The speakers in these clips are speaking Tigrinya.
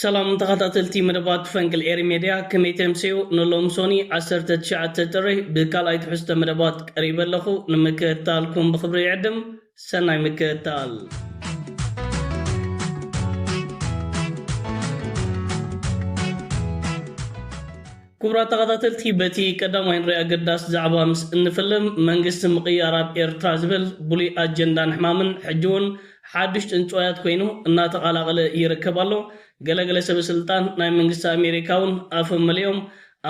ሰላም ተኻታተልቲ መደባት ፈንቅል ኤሪ ሜድያ ከመይ ተምሰዮ ንሎም ሶኒ ዓሰርተ ትሽዓተ ጥሪ ብካልኣይ ትሕዝቶ መደባት ቀሪበ ኣለኹ ንምክእታልኩም ብኽብሪ ይዕድም ሰናይ ምክእታል። ክቡራት ተኸታተልቲ በቲ ቀዳማይ ንሪኢ ኣገዳሲ ዛዕባ ምስ እንፍልም መንግስቲ ምቕያር ኣብ ኤርትራ ዝብል ብሉይ ኣጀንዳን ሕማምን ሕጂውን ሓዱሽ ጥንጭዋያት ኮይኑ እናተቓላቐለ ይርከብ ኣሎ። ገለ ገለ ሰበ ስልጣን ናይ መንግስቲ ኣሜሪካውን ኣፎም መሊኦም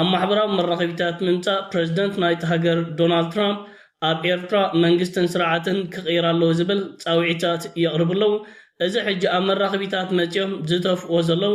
ኣብ ማሕበራዊ መራኸቢታት ምምጻእ ፕረዚደንት ናይታ ሃገር ዶናልድ ትራምፕ ኣብ ኤርትራ መንግስትን ስርዓትን ክቕየር ኣለዎ ዝብል ጻውዒታት የቕርቡ ኣለዉ። እዚ ሕጂ ኣብ መራኸቢታት መጺኦም ዝተፍዎ ዘለዉ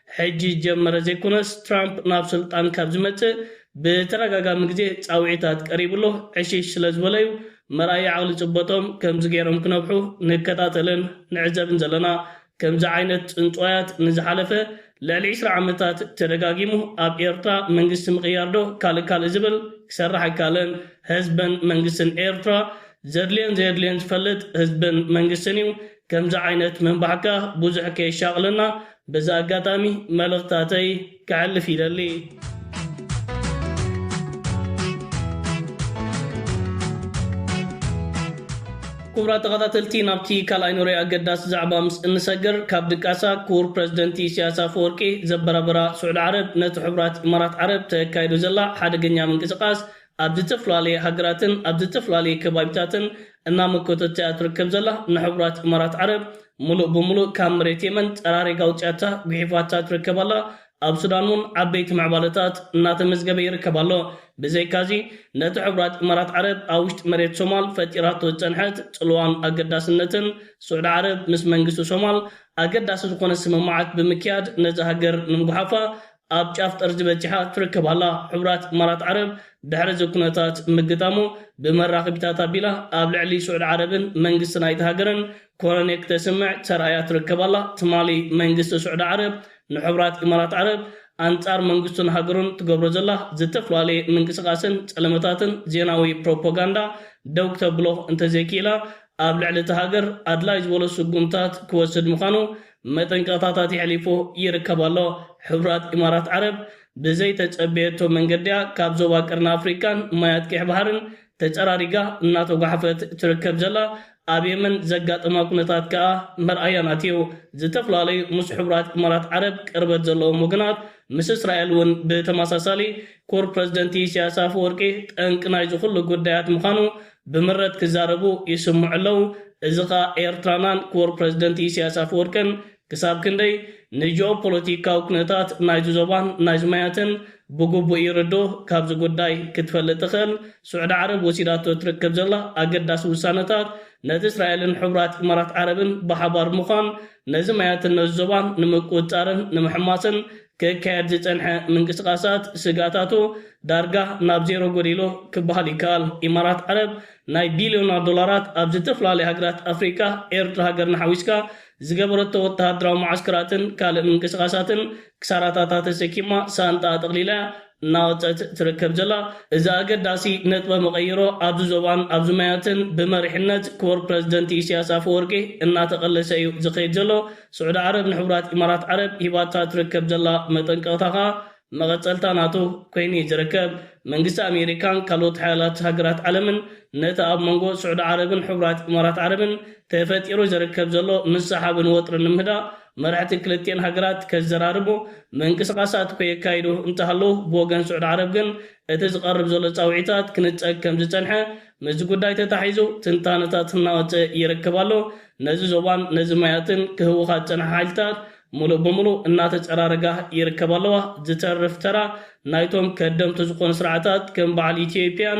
ሕጂ ዝጀመረ ዘይኮነስ ትራምፕ ናብ ስልጣን ካብ ዝመጽእ ብተደጋጋሚ ግዜ ጻውዒታት ቀሪብሉ ዕሽሽ ስለ ዝበለ'ዩ መርኣያ ዓቕሊ ጽበጦም ከምዚ ገይሮም ክነብሑ ንከታተልን ንዕዘብን ዘለና። ከምዚ ዓይነት ጽንጽዋያት ንዝሓለፈ ልዕሊ ዕስራ ዓመታት ተደጋጊሙ ኣብ ኤርትራ መንግስቲ ምቕያር'ዶ ካልእ ካልእ ዝብል ክሰርሕ ኣይካለን። ህዝብን መንግስትን ኤርትራ ዘድልዮን ዘየድልዮን ዝፈልጥ ህዝብን መንግስትን እዩ። ከምዚ ዓይነት ምንባሕካ ብዙሕ ከየሻቕለና በዚ ኣጋጣሚ መልእኽትታተይ ከሕልፍ ይደሊ። ኩቡራት ተኻታተልቲ ናብቲ ካልኣይ ኑረይ ኣገዳሲ ዛዕባ ምስ እንሰግር ካብ ድቃሳ ኩቡር ፕረዚደንቲ ኢሰያስ ኣፈወርቂ ዘበራብራ ሱዕዲ ዓረብ ነቲ ሕቡራት ኢማራት ዓረብ ተካይዶ ዘላ ሓደገኛ ምንቅስቃስ ኣብ ዝተፈላለየ ሃገራትን ኣብ ዝተፈላለየ ከባቢታትን እናመከተቶ እያ ትርከብ ዘላ፣ ንሕቡራት እማራት ዓረብ ምሉእ ብምሉእ ካብ መሬት የመን ጠራሪጋ ኣውጺኣታ ጉሒፋታ ትርከብ ኣላ፣ ኣብ ሱዳን እውን ዓበይቲ ምዕባለታት እናተመዝገበ ይርከብ ኣሎ፣ ብዘይካዚ ነቲ ሕቡራት እማራት ዓረብ ኣብ ውሽጢ መሬት ሶማል ፈጢራቶ ዝጸንሐት ጽልዋን ኣገዳስነትን ስዑዲ ዓረብ ምስ መንግስቲ ሶማል ኣገዳሲ ዝኾነ ስምምዓት ብምክያድ ነዛ ሃገር ንምጉሓፋ ኣብ ጫፍ ጠርዚ በጺሓ ትርከብ ኣላ። ሕቡራት ኢማራት ዓረብ ድሕሪ እዚ ኩነታት ምግጣሙ ብመራኸቢታት ኣቢላ ኣብ ልዕሊ ስዑድ ዓረብን መንግስቲ ናይታ ሃገርን ኮነኔ ክተስምዕ ተራእያ ትርከብ ኣላ። ትማሊ መንግስቲ ስዑዲ ዓረብ ንሕቡራት ኢማራት ዓረብ ኣንጻር መንግስቱን ሃገሩን ትገብሮ ዘላ ዝተፍላለየ ምንቅስቃስን ጸለመታትን ዜናዊ ፕሮፖጋንዳ ደው ክተብሎ እንተዘይኪኢላ ኣብ ልዕሊ እታ ሃገር ኣድላይ ዝበሎ ስጉምታት ክወስድ ምኻኑ መጠንቀቕታታት የሕሊፉ ይርከብ ኣሎ። ሕቡራት ኢማራት ዓረብ ብዘይተጸበየቶ መንገዲ'ያ ካብ ዞባ ቀርኒ ኣፍሪቃን ማያት ቀይሕ ባሕርን ተጸራሪጋ እናተጓሓፈት ትርከብ ዘላ። ኣብ የመን ዘጋጠማ ኩነታት ከኣ መርኣያ ናቲ'ዩ። ዝተፈላለዩ ምስ ሕቡራት ኢማራት ዓረብ ቅርበት ዘለዎም ወገናት ምስ እስራኤል'ውን ብተመሳሳሊ፣ ኩር ፕረዚደንት ኢሲያስ ኣፈወርቂ ጠንቂ ናይዚ ኩሉ ጉዳያት ምዃኑ ብምረት ክዛረቡ ይስምዑ ኣለው እዚ ከኣ ኤርትራናን ክቡር ፕረዚደንት ኢሰያስ ኣፈወርቅን ክሳብ ክንደይ ንጂኦፖለቲካዊ ኩነታት ናይዚ ዞባን ናይዚ ማያትን ብግቡእ ይርድኡ ካብዚ ጉዳይ ክትፈልጥ ትኽእል ሱዕዲ ዓረብ ወሲዳቶ ትርክብ ዘላ ኣገዳሲ ውሳነታት ነቲ እስራኤልን ሕቡራት ኢማራት ዓረብን ብሓባር ምዃን ነዚ ማያትን ነዚ ዞባን ንምቁጽጻርን ንምሕማስን ክካየድ ዝጸንሐ ምንቅስቓሳት ስግኣታቱ ዳርጋ ናብ ዜሮ ጎዲሉ ክበሃል ይከኣል። ኢማራት ዓረብ ናይ ቢልዮናት ዶላራት ኣብ ዝተፈላለያ ሃገራት ኣፍሪቃ፣ ኤርትራ ሃገርና ሓዊስካ፣ ዝገበረቶ ወተሃደራዊ መዓስከራትን ካልእ ምንቅስቓሳትን ክሳራታታ ተሰኪማ ሳንጣኣ ጠቕሊላ እያ እናወፀት ትርከብ ዘላ እዚ ኣገዳሲ ነጥበ መቐይሮ ኣብዚ ዞባን ኣብዚ ማያትን ብመሪሕነት ክቡር ፕረዚደንት ኢስያስ ኣፈወርቂ እናተቐለሰ እዩ ዝኸይድ ዘሎ። ስዑዲ ዓረብ ንሕቡራት ኢማራት ዓረብ ሂባታ ትርከብ ዘላ መጠንቀቕታ ከኣ መቐጸልታ ናቱ ኮይኑ እዩ ዝርከብ። መንግስቲ ኣሜሪካን ካልኦት ሓያላት ሃገራት ዓለምን ነቲ ኣብ መንጎ ስዑዲ ዓረብን ሕቡራት ኢማራት ዓረብን ተፈጢሩ ዝርከብ ዘሎ ምስሕሓብን ወጥርን ንምህዳእ መራሕቲ ክልቲኤን ሃገራት ከዘራርቡ ምንቅስቓሳት እኮ የካይዱ እንተሃለዉ፣ ብወገን ስዑድ ዓረብ ግን እቲ ዝቐርብ ዘሎ ጻውዒታት ክንጸግ ከምዝጸንሐ ምስዚ ጉዳይ ተታሒዙ ትንታነታት እናወጸ ይርከብ ኣሎ። ነዚ ዞባን ነዚ ማያትን ክህውኻ ዝጸንሓ ሓይልታት ምሉእ ብምሉእ እናተጸራረጋ ይርከባ ኣለዋ። ዝተርፍ ተራ ናይቶም ከደምቲ ዝኾኑ ስርዓታት ከም በዓል ኢትዮጵያን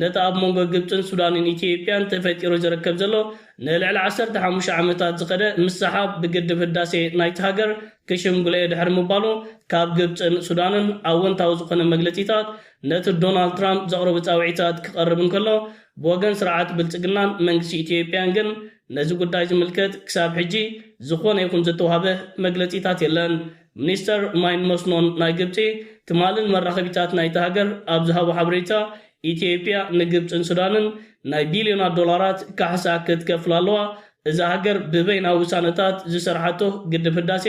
ነቲ ኣብ መንጎ ግብጽን ሱዳንን ኢትዮጵያን ተፈጢሩ ዝርከብ ዘሎ ንልዕሊ ዓሰርተ ሓሙሽተ ዓመታት ዝኸደ ምስሕሓብ ብግድብ ህዳሴ ናይታ ሃገር ክሽምግሎ'የ ድሕሪ ምባሉ ካብ ግብጽን ሱዳንን ኣወንታዊ ዝኾነ መግለጺታት ነቲ ዶናልድ ትራምፕ ዘቕረቦ ጻውዒታት ክቐርብ እንከሎ ብወገን ስርዓት ብልጽግናን መንግስቲ ኢትዮጵያን ግን ነዚ ጉዳይ ዝምልከት ክሳብ ሕጂ ዝኾነ ይኹን ዝተዋህበ መግለጺታት የለን። ሚኒስተር ማይን መስኖን ናይ ግብጺ ትማሊ ንመራኸቢታት ናይታ ሃገር ኣብ ዝሃቦ ሓበሬታ፣ ኢትዮጵያ ንግብጽን ሱዳንን ናይ ቢልዮናት ዶላራት ካሕሳ ክትከፍላ ኣለዋ፣ እዛ ሃገር ብበይና ውሳነታት ዝሰርሓቶ ግድብ ህዳሴ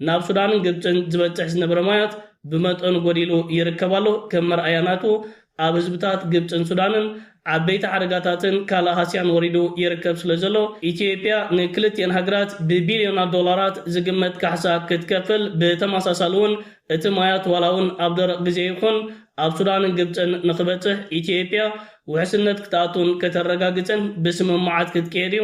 ናብ ሱዳንን ግብጽን ዝበጽሕ ዝነበረ ማያት ብመጠኑ ጎዲሉ ይርከብ ኣሎ፣ ከም መርኣያ ናቱ ኣብ ህዝብታት ግብጽን ሱዳንን ዓበይቲ ሓደጋታትን ካልእ ሃስያን ወሪዱ ይርከብ ስለዘሎ፣ ኢትዮጵያ ንክልቲኤን ሃገራት ብቢልዮናት ዶላራት ዝግመት ካሕሳ ክትከፍል፣ ብተመሳሳሊ'ውን እቲ ማያት ዋላ'ውን ኣብ ደረቕ ግዜ ይኹን ኣብ ሱዳንን ግብጽን ንኽበጽሕ ኢትዮጵያ ውሕስነት ክትኣቱን ከተረጋግጽን ብስምምዓት ክትቅየድ'ዩ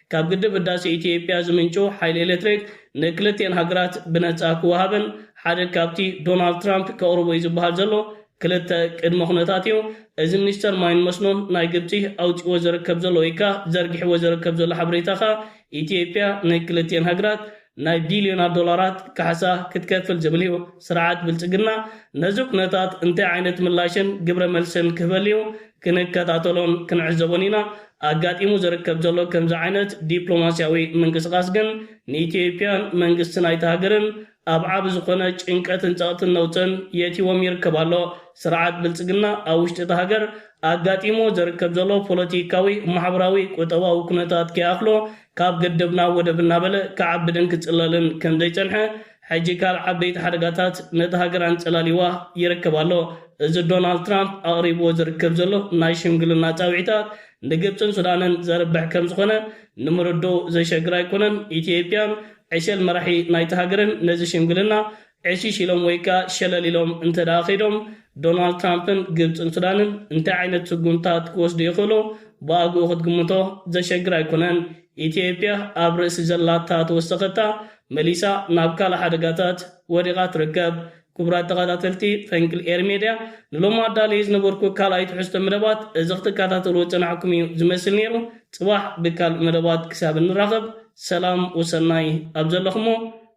ካብ ግድብ ህዳሴ ኢትዮጵያ ዝምንጩ ሓይሊ ኤሌክትሪክ ንክልቲኤን ሃገራት ብነፃ ክወሃብን ሓደ ካብቲ ዶናልድ ትራምፕ ከቕርቦ እዩ ዝበሃል ዘሎ ክልተ ቅድመ ኩነታት እዩ። እዚ ሚኒስተር ማይን መስኖን ናይ ግብፂ ኣውፂእዎ ዝርከብ ዘሎ ወይከዓ ዘርጊሕዎ ዝርከብ ዘሎ ሓበሬታ ከኣ ኢትዮጵያ ንክልቲኤን ሃገራት ናይ ቢልዮናት ዶላራት ካሕሳ ክትከፍል ዝብል'ዩ። ስርዓት ብልጽግና ነዚ ኩነታት እንታይ ዓይነት ምላሽን ግብረ መልስን ክህበሉ'ዩ ክንከታተሎን ክንዕዘቦን ኢና። ኣጋጢሙ ዝርከብ ዘሎ ከምዚ ዓይነት ዲፕሎማስያዊ ምንቅስቓስ ግን ንኢትዮጵያን መንግስቲ ናይታ ሃገርን ኣብ ዓቢ ዝኾነ ጭንቀትን ጸቕጥን ነውጽን የእትይዎም ይርከብ ኣሎ። ስርዓት ብልጽግና ኣብ ውሽጢ እታ ሃገር ኣጋጢምዎ ዝርከብ ዘሎ ፖለቲካዊ፣ ማሕበራዊ፣ ቁጠባዊ ኩነታት ከይኣኽሎ ካብ ገደብ ናብ ወደብ እናበለ ክዓብድን ክጽለልን ከም ዘይጸንሐ፣ ሕጂ ካልእ ዓበይቲ ሓደጋታት ነታ ሃገር ኣንጸላልይዋ ይርከብ ኣሎ። እዚ ዶናልድ ትራምፕ ኣቕሪብዎ ዝርከብ ዘሎ ናይ ሽምግልና ጻውዒታት፣ ንግብጽን ሱዳንን ዘርብሕ ከም ዝኾነ ንምርድኡ ዘሸግር ኣይኮነን። ኢትዮጵያን ዕሸል መራሒ ናይታ ሃገርን ነዚ ሽምግልና ዕሽሽ ኢሎም ወይከኣ ሸለል ኢሎም እንተድኣ ከይዶም፣ ዶናልድ ትራምፕን ግብጽን ሱዳንን እንታይ ዓይነት ስጉምትታት ክወስዱ ይኽእሉ ብኣግኡ ክትግምቶ ዘሸግር ኣይኮነን። ኢትዮጵያ ኣብ ርእሲ ዘላታ ተወሰኸታ መሊሳ ናብ ካልእ ሓደጋታት ወዲቓ ትርከብ። ክቡራት ተኸታተልቲ ፈንቅል ኤሪ ሜድያ ንሎሚ ኣዳልየዮ ዝነበርኩ ካልኣይ ትሕዝቶ መደባት እዚ ክትከታተልዎ ዝጸናሕኩም እዩ ዝመስል ነይሩ። ጽባሕ ብካልእ መደባት ክሳብ እንራኸብ ሰላም ወሰናይ ኣብ ዘለኹሞ